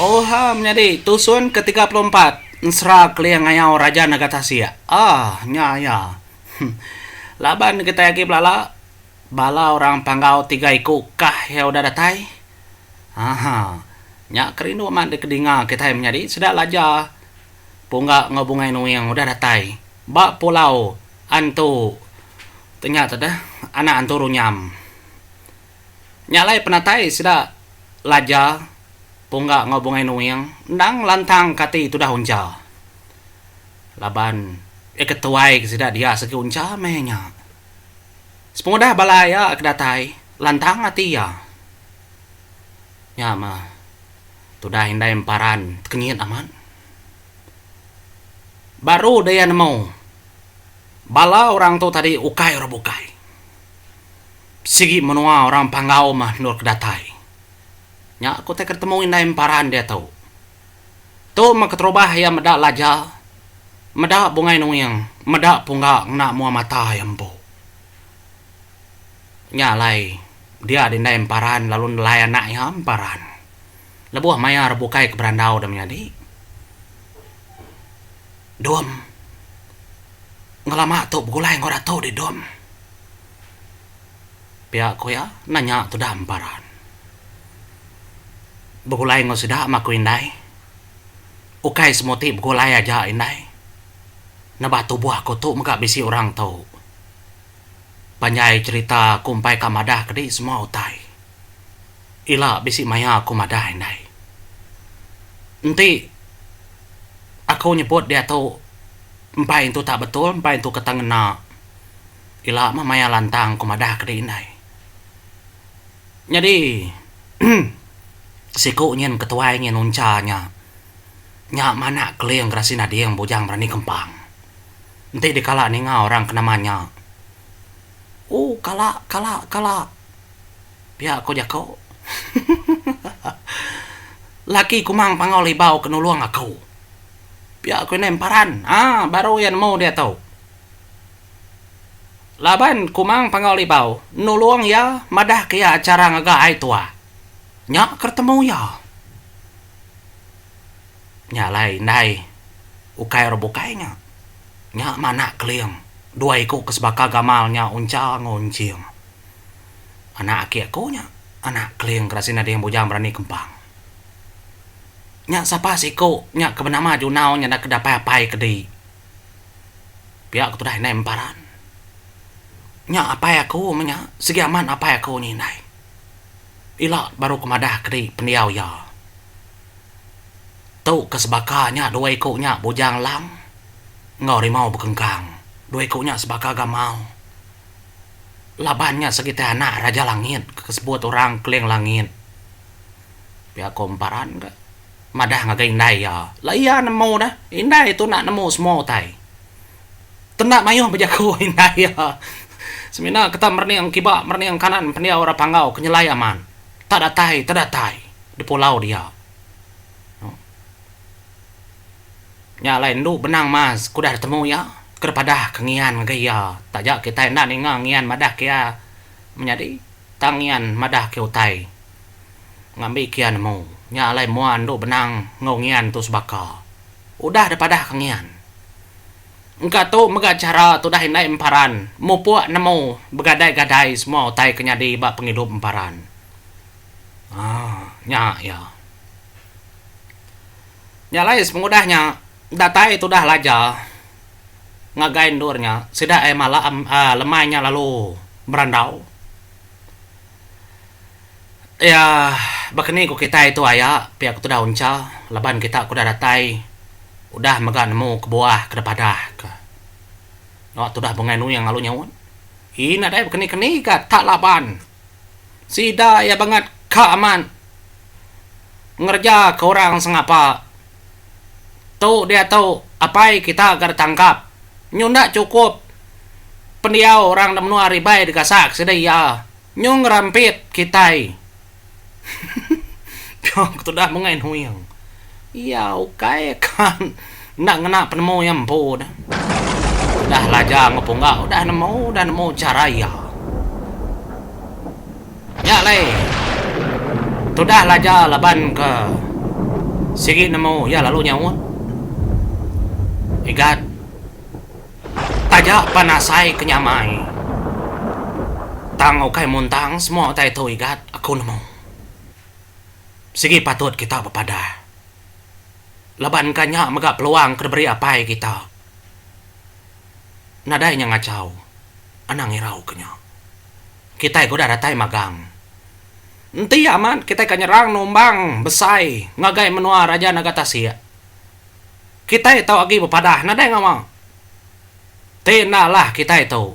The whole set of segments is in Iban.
Oha menyadi tusun ke tiga puluh empat ensera keling ngayau Raja Nagatasik. Ah, nya iya. Huh. Laban kitai agi belala, bala orang Panggau tiga iku kah iya udah datai? Aha. Nya ke rindu amat dikedinga kitai menyadi sida laja Pungga enggau Bungai Nuing udah datai ba pulau Antu tu nya tu deh, anak Antu Runyam. Nya alai penatai sida Laja, Pungga enggau Bungai Nuing endang ngelantang ke ati tudah uncha. Laban iya ke tuai ke sida dias agi uncha meh nya. Sepengudah bala iya ke datai lantang ati iya. Nya meh tudah indai emparan tekenyit amat. Baru daya nemu bala orang tu tadi ukai orang bukai. Sigi menua orang Panggau meh endur ke datai. Nya ku utai ke ditemu indai emparan diatu. Tu meh keterubah iya meda laja, meda bungai nuing, meda pungga ngena mua mata iya empu. Nya alai dia di indai emparan lalu nelai anak iya emparan. Lebuh maya re bukai ke berandau deh menyadi. Dom. Ngelama tu begulai enggau ratu di dom. Pia ku iya, endang nya tudah emparan. Begulai enggau sida meh aku indai. Ukai semua ti begulai aja indai. Nebah tubuh aku tu mega bisi orang tu. Panjai cherita aku empai ka madah kadi semua utai. Ila bisi maya aku madah indai. Enti aku nyebut diatu empai tu tak betul, empai tu kata ngena. ila meh maya lantang ku madah ke dih indai. Nyadi siku nyin ketuai nyin uncha nya nya manak keling gerasi nading bujang berani kempang. Enti dikala ninga orang ke nama nya ooh kala kala kala pia ku jaku laki kumang pangau libau ke nulung aku pia ku indai emparan aaa baru iya nemu diatu. Laban Kumang Pangau Libau nulung iya madahka iya chara ngaga ai tua. Nya ke retemu iya. Nya alai indai ukai orang bukai nya. Nya Manak Keling, dua iku ke sebaka gamal nya Uncha enggau Unching. Anak aki aku nya Anak Keling ke Rasin Nading Bujang Berani Kempang. Nya sapa siku nya ke benama Junau nya enda ke dapai apai kedi. Pia ku tudah indai memparan. Nya apai aku meh nya, sigi amat apai aku nya indai. Ila baru ku madah kadi pendiau iya. Tu ke sebaka nya dua iku nya bujang lang enggau rimau bekengkang. Dua iku nya sebaka gamau. Laban nya sekitai anak Raja Langit ke sebut orang Keling Langit. Pia ku memparan ka. madah ngagai indai iya, la iya nemu deh, indai tu enda nemu semua utai. Tenda mayuh bejaku indai iya. Semina ke tak merening kiba merening kanan pendiau orang Panggau ke nyelai amat. Tak datai, tak datai di pulau dia. Nya alai endu benang mas ke udah ditemu iya, ke dipadah ke ngian ngagai iya. Taja kitai enda ninga ngian madah ke iya menyadi, tang ngian madah ke utai. Ngambi kian nemu. Nya alai mua andu benang enggau ngian tu sebaka. Udah da padah ka ngian. Engka tu mega chara tudah indai emparan mupuk nemu begadai-gadai semua utai ke nyadi ba pengidup emparan. Haa nya iya. Nya alai sepengudah nya datai tudah laja ngagai endur nya sida ai malam lemai nya lalu berandau. Iya, baka ni ku kitai tu aya pia ku tudah uncha laban kita ku udah datai udah mega nemu kebuah ke dipadah ka. Nya tudah Bungei Nuing lalu nyaut. Ih nadai bekeni keni ka tak laban sida iya bangat ka amat ngereja ka orang sengapa. Tu diatu apai kita ga ditangkap. Nyu enda chukup, pendiau orang da menua ari Ibai digasak sida iya nyu ngerampit kitai. Ko ku tudah Bengai Nuing. Iya ukai ka enda ngena penemu iya empu dah. Udah laja enggau pungga udah nemu udah nemu chara iya. Nya alai tudah laja laban ke sigi nemu iya lalu nyaut Igat taja pan asai ke nyamai tang ukai muntang semua utai tu Igat aku nemu sigi patut kita bepadah laban ka nya mega peluang ke diberi apai kita nadai nya ngachau anang irau ke nya. Kitai ke udah datai magang. Enti amat kitai ka nyerang numbang besai ngagai menua Raja Naga Tasik. Kitai tau agi bepadah nadai ngawa. Ti enda lah kitai tu.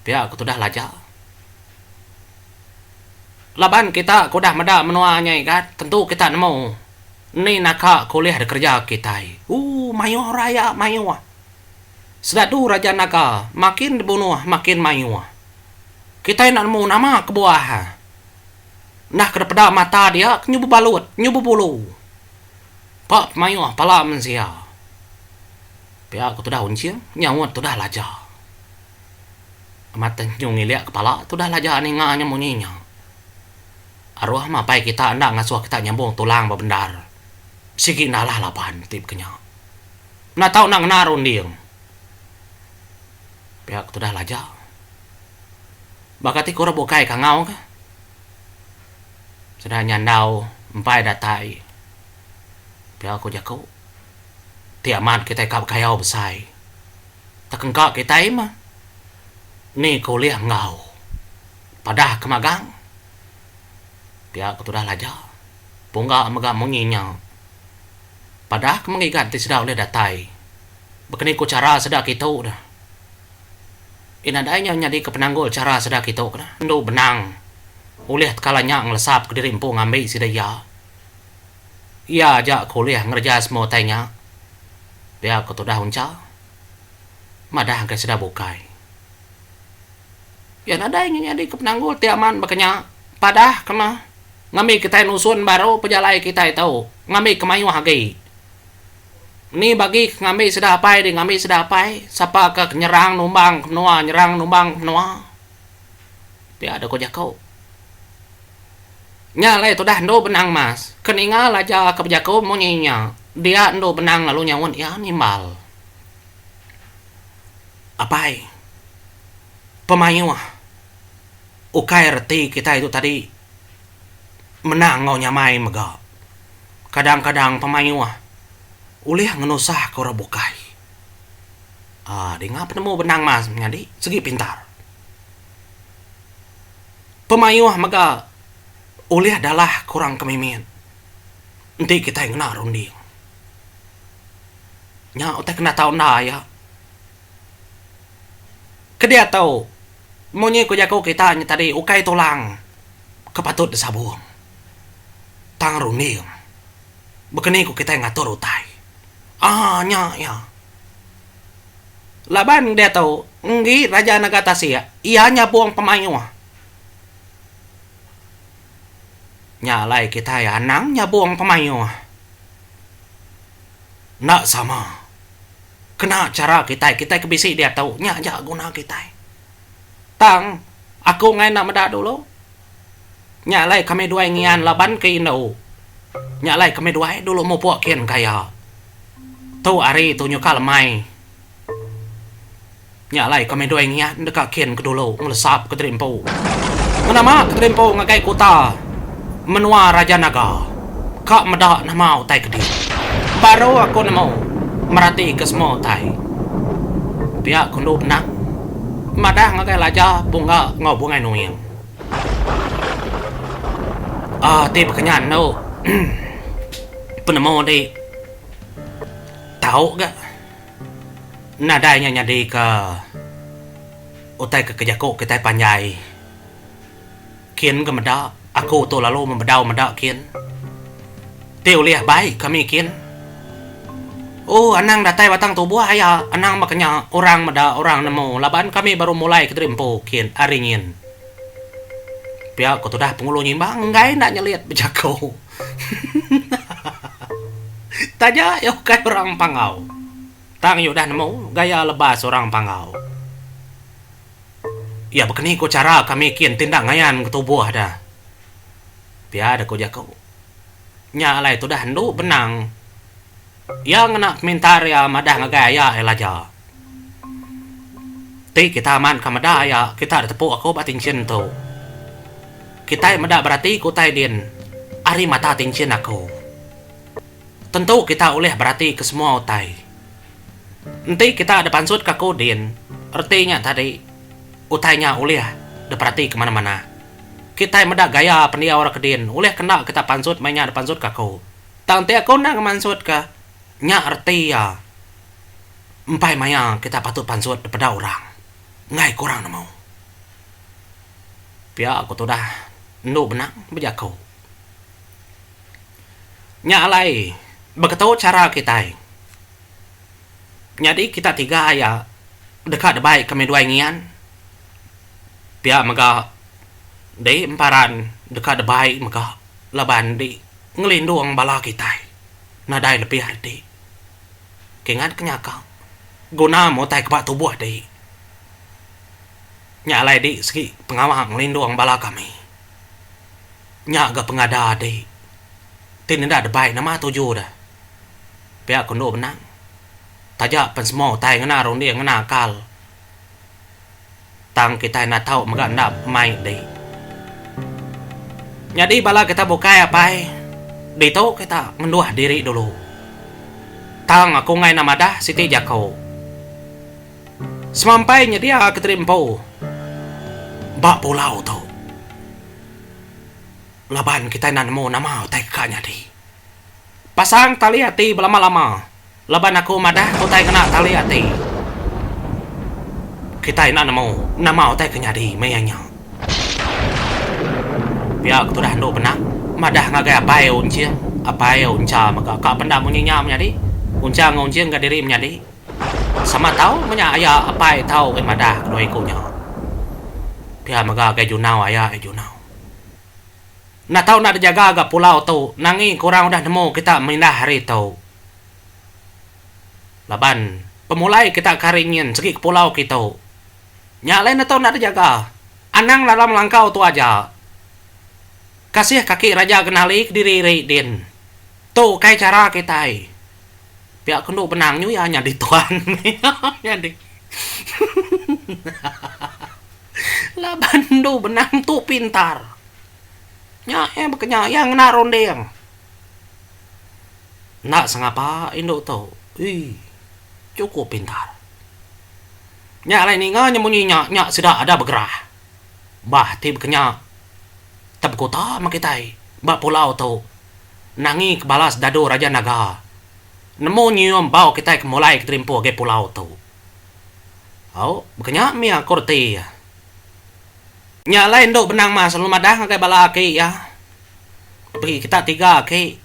Pia ke tudah Laja. Laban kita ke udah meda menua nya igat tentu kita nemu ni naka ke ulih dikereja kitai. Ooh mayuh raya mayuh. Sedadu Raja Naga makin dibunuh makin mayuh. Kitai enda nemu nama kebuah iya. Enda ke dipeda mata dia ke nyubu balut, nyubu bulu. Empa pemayuh pala mensia. Pia ku tudah Unching nyaut tudah Laja. Amat tenyu ngilik kepala tudah Laja ninga nya munyi nya. Aruh mapai kita enda ngasuh kita nyambung tulang bebendar. Sigi enda alah laban ti baka nya. Enda tau nak ngena runding. Pia ku tudah Laja. Baka ti ku orang bukai ke angau ka. Sida nyandau empai datai. Pia ku jaku ti amat kitai ka bekayau besai. Tak engka kitai mah ni ke ulih enggau padah ke magang. Pia ku tudah Laja. Pungga mega munyi nya Padah ke mengigat enti sida ulih datai. Bekeni ku chara sida kitu da. Pi nadai nya nyadika penanggul chara sida kitu kena endu benang ulih tekala nya ngelesap kediri empu ngambi sida iya. Iya aja ke ulih ngereja semua utai nya. Pia ku Tudah Uncha madah enggai sida bukai. Iya nadai nyin nyadi ke penanggul ti aman baka nya. Padah kema ngambi kitai nusun baru pejalai kitai tu ngambi ke mayuh agi. Ni bagi ke ngambi sida apai dih ngambi sida apai sapa ke nyerang numbang ke menua nyerang numbang ke menua. Pia dau ku jaku. Nya alai tudah endu benang mas. Ke ninga laja ke bejaku munyi nya dia endu benang lalu nyaut iya nimbal. Apai, pemayuh ukai reti kitai tu tadi menang enggau nyamai mega. Kadang-kadang pemayuh ulih ngenusahka orang bukai. Aa dinga penemu benang mas nyadi segi pintar. Pemayuh mega ulih dalahka orang ke mimit enti kitai ngena runding. Nya utai kena tau enda iya. Kedia tu munyi ku jaku kita nya tadi ukai tulang ke patut disabung tang runding baka ni ku kitai ngatur utai. Aaa nya iya. Laban diatu enggi raja nanga tasik iya nyabung pemayuh. Nya alai kitai anang nyabung pemayuh. Enda sama. Kena chara kitai, kitai ke bisi diatu nya aja guna kitai. Tang aku ngai enda meda dulu nya alai kami duai ngian laban ke indu nya alai kami duai dulu mupuk kin kaya tu ari tu nyukal amai. Nya alai kami doi ngiah deka kin ke dulu ngelesap ke tadi empu. Ngenama ke tadi empu ngagai kuta menua Raja Naga. Ka meda nama utai ke dia. Baru aku nemu merati ke semua utai. Pia ku endu benang madah ngagai laja Bungga enggau Bungai Nuing. Aaa ti bekenyan endu penemu enti tau ga. Nadai nya nyadika utai ke kejaku kitai panjai kin ke meda aku tu lalu mebedau meda kin ti ulih bai kami kin ooh anang datai batang tubuh aya anang baka nya orang meda orang nemu laban kami baru mulai kediri empu kin ari nyin pia ku tudah Penghulu Nyimbang enggai enda nyelit bejaku. Taja iya ukai orang Panggau, tang iya udah nemu gaya lebas orang Panggau. Iya bekeni ku chara kami kin ti enda ngayan ketubuh da. Pia da ku jaku. Nya alai tudah endu benang iya ngena pemintar iya madah ngagai aya iya laja. Ti kita amat ka meda iya kita eda tepu aku ba tinchin tu. Kitai meda berati ke utai din ari mata tinchin aku. Tentu kita ulih berati ke semua utai. Enti kita eda pansut ka aku din reti nya tadi utai nya ulih diperati ke manah-manah. Kitai meda gaya pendiau ra ke din ulih ke enda kita pansut meh nya dipansut ka aku. Tang enti aku enda ngemansut ka nya reti iya. Empai maya kita patut pansut dipeda orang enggai kurang nemu. Pia ku tudah endu benang bejaku. Nya alai beketu chara kitai nyadi kita tiga iya deka debai ke midwai ngian pia mega dei emparan deka debai mega laban dei ngelindung bala kitai nadai lebih reti. Kingat ke nyaka guna mu utai ke ba tubuh ti. Nya alai di segi pengawa ngelindung bala kami. Nya ga pengada ti ti nenda debai nama tuju de. Pia ko endu benang taja pen semua utai ngena runding ngena akal. Tang kitai enda tau mega enda mai di. Nyadi bala kita bukai apai ditu kita ngenduh diri dulu. Tang aku enggai enda madah siti jaku. Semampai nyedia Kenteri Empu ba pulau tu laban kitai enda nemu nama utai ka nyadi. Pasang tali ati belama-lama laban aku madah utai ngena tali ati. Kitai enda nemu nama utai ke nyadi maya nya. Pia ke tudah endu benah madah ngagai apai Unching, apai Uncha mega ka penda munyi nya menyadi. Uncha enggau Unching ga diri menyadi sama tau menya aya apai tau oi madah kedua iku nya. Pia mega gai junau aya oi junau. Enda tau enda dijaga ga pulau tu nangi engka orang udah nemu kita mindah hari tu. Laban pemulai kita ke hari nyin segi ke pulau kitu. Nya alai enda tau enda dijaga. Anang dalam langkau tu aja. Kasih kaki raja genali kediri ri din. Tu ukai chara kitai. Pia ke endo benang nyu iya nyadi tuan. Iya nyadi. Laban endu benang tu pintar. Nya iya bekenya iya ngena runding. Enda sengapa indu tu. Ui. Chukup pintar. Nya alai ninga nya munyi nya, nya sida ada begerah. Bah ti bekenya tebekuta meh kitai ba pulau tu nangi ke balas dadu Raja Naga nemu nyium bau kitai ke mulai ke terimpuh agi pulau tu. Au, baka nya mih ko reti iya. Nya alai endu benang mas lalu madah ngagai bala aki iya. Pagi kita tiga aki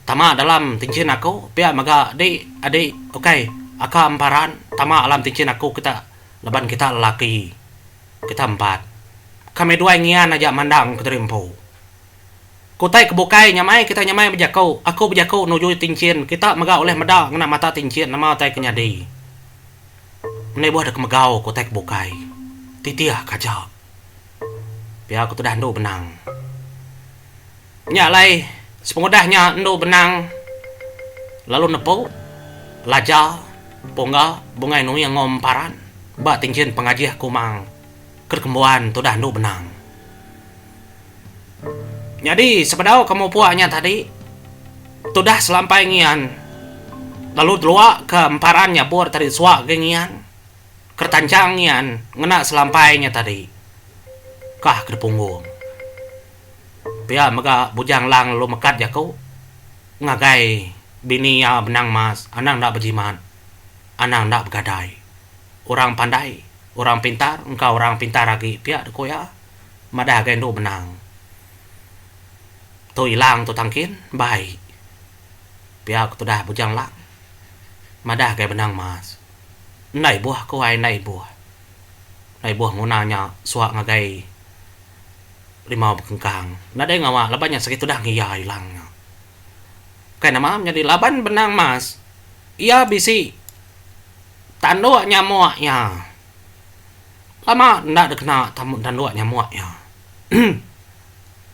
tama dalam tinchin aku pia mega di adi ukai aka emparan tama alam tinchin aku kita laban kita lelaki. Kita empat. Kami duai ngian aja mandang Kuteri Empu. Ku utai ke bukai, nyamai kitai nyamai bejaku, aku bejaku nuju tinchin, kita mega ulih meda ngena mata tinchin nama utai ke nyadi. Menibuh deka megau ku utai ke bukai. Titih ka aja. Pia ku tudah endu benang. Nya alai sepengudah nya endu benang lalu nepu laja pungga bungai nuing enggau emparan ba tinchin pengajih kumang. Ke kembuan tudah endu benang. Nyadi sebedau ke mupuk nya tadi tudah selampai ngian lalu delua ke emparan nya bur tadi suwa agi ngian ke retanchang ngian ngena selampai nya tadi kah ke dipunggung. Pia mega Bujang Lang lalu mekat jaku ngagai bini iya benang mas anang enda bejimat anang enda begadai. Orang pandai Orang pintar engka orang pintar agi pia deh ku iya madah ga indu benang tu ilang tu tangkin bai pia ku tudah Bujang Lang madah ga benang mas enda ibuh ku ai enda ibuh enda ibuh nguna nya suak ngagai rimau bekengkang nadai ngawa laban nya segi tudah ngeia ilang nya kai nama menyadi laban benang mas iya bisi tanduk nyamuk iya. Lama enda dikena tanduk nyamuk iya.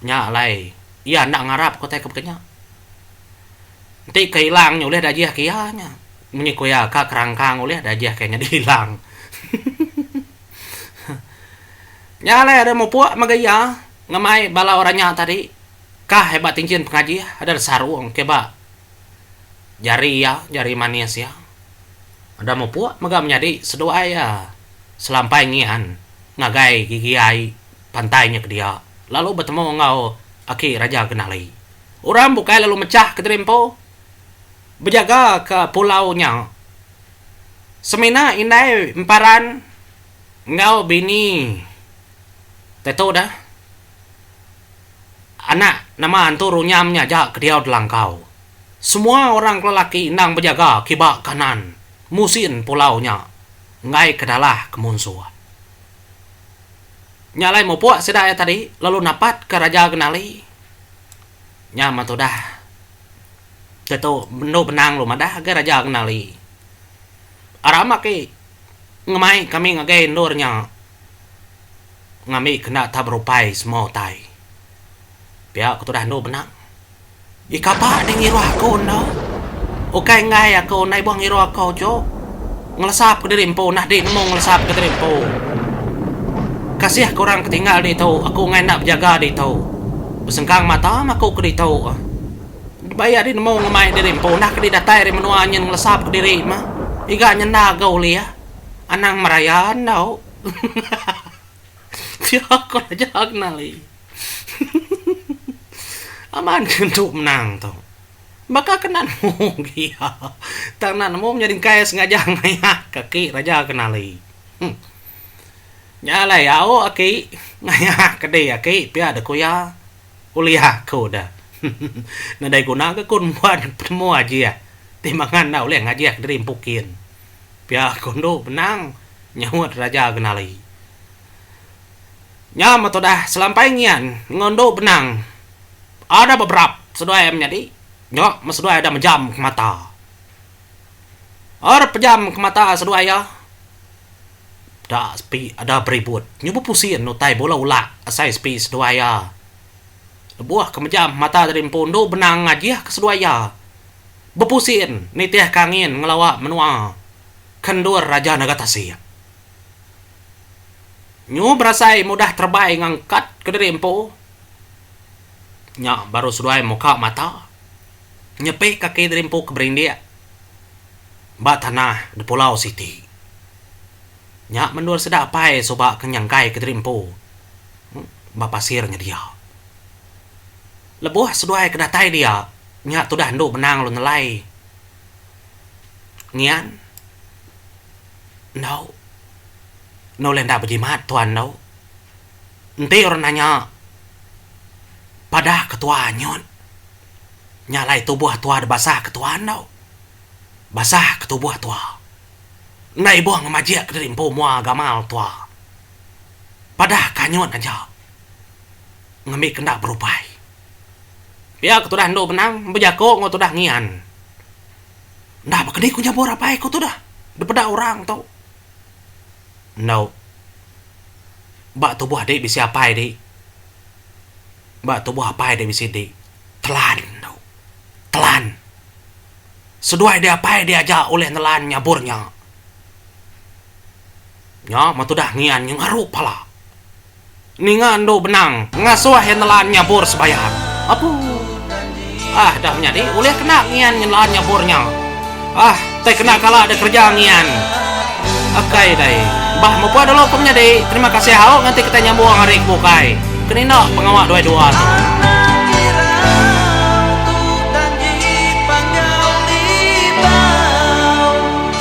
Nya alai iya enda ngarap ke utai ke baka nya. Enti ke ilang nya ulih diajihka iya nya. Munyi ku iya ka kerangkang ulih diajihka nyadi ilang. Nya alai ari mupuk mega iya ngemai bala orang nya tadi kah ba tinjin pengajih deh sarung ke ba jari iya jari manis iya udah mupuk mega menyadi seduai iya selampai ngian ngagai gigi ai pantai nya kedia lalu betemu enggau aki raja kenali orang bukai lalu mechah kediri empu bejaga ka pulau nya semina indai emparan enggau bini te tu da Anak nama antu runyam nya aja ke diau Delangkau. Semua orang ke lelaki endang bejaga kiba kanan musin pulau nya enggai ke dalah ke munsuh. Nya alai mupuk sida iya tadi lalu napat ke Raja Genali. Nya mah tudah. Tetu bendu benang lu madah agei Raja Genali. Aram aki ngemai kami ngagai endur nya. ngambika enda tau berupai semua utai. Pia ku tudah andu benang. Ih kapa deh ngiruh aku enda. Ukai enggai aku enda ibuh ngiruh aku ju. Ngelesapka diri empu nah dih nemu ngelesapka diri empu. Kasih ke orang ke tinggal ditu aku enggai enda bejaga ditu. Besengkang mata meh aku ke ditu. Dibaya dih nemu ngemai diri empu nah ke dih datai ari menua nyin ngelesapka diri meh. Iga nyenda ga ulih. Anang meraya endu. Pia ko Raja Agnali. Aman ke entu menang tu. Baka ke enda nemu pia. Tang enda nemu menyadi engkai sengaja ngayak ke aki Raja Agnali. Huh. Nya alai au aki ngayak ke diri aki pia de ku iya. Ulih aku de. Nadai guna ke ku nembuan penemu ajih ti mangan enda ulih ngajih diri empu kin. Pia ko endu benang, nyahut Raja Genali. Nya meh tudah, selampai ngian enggau endu benang ada beberap seduai menyadi, nya meh seduai ada mejam ke mata. Aur pejam ke mata seduai iya, da sepi ada beribut nyubu pusin utai bula ulak asai sepi seduai iya. Lebuh ke mejam mata tadi empu endu benang ngajih ke seduai iya. bepusin nitih ke angin ngelawa menua ke endur Raja Naga Tasik. Nyu berasai mudah terebai ngangkat kediri empu nya baru seduai muka mata nyepi kaki diri empu ke berindik ba tanah di pulau siti. Nya mendur sida apai suba ke nyangkaika diri empu ba pasir nyedia. Lebuh seduai ke datai dia nya tudah endu menang lu nelai ngian endu enda ulih enda bejimat tuan endu enti orang nanya padah ke tua anyut nya alai tubuh tua dek basah ke tua endu basah ke tubuh tua enda ibuh ngemajik ke diri empu mua gamal tua padah ke anyut aja. ngambika enda berupai. Pia ku tudah endu benang bejaku enggau tudah ngian. Enda ba kedi ku nyabur apai ku tudah dipeda orang tu. Endu ba tubuh adi bisi apai di ba tubuh apai adi bisi di telan endu telan seduai di apai diaja ulih nelan nyabur nya. Nya men tudah ngian nya ngaru pala. Ninga endu benang ngasuh Hendelan nyabur sebayang. Apuh. Ah dah menyadi ulih kena ngian Nyendelan nyabur nya. Ah tai kena kala da kerja ngian. Akai dai. Bah mupah dulu ku menyadi. Terima kasih au nganti kitai nyambung ari ke bukai. Kenina pengawa duai dua tu.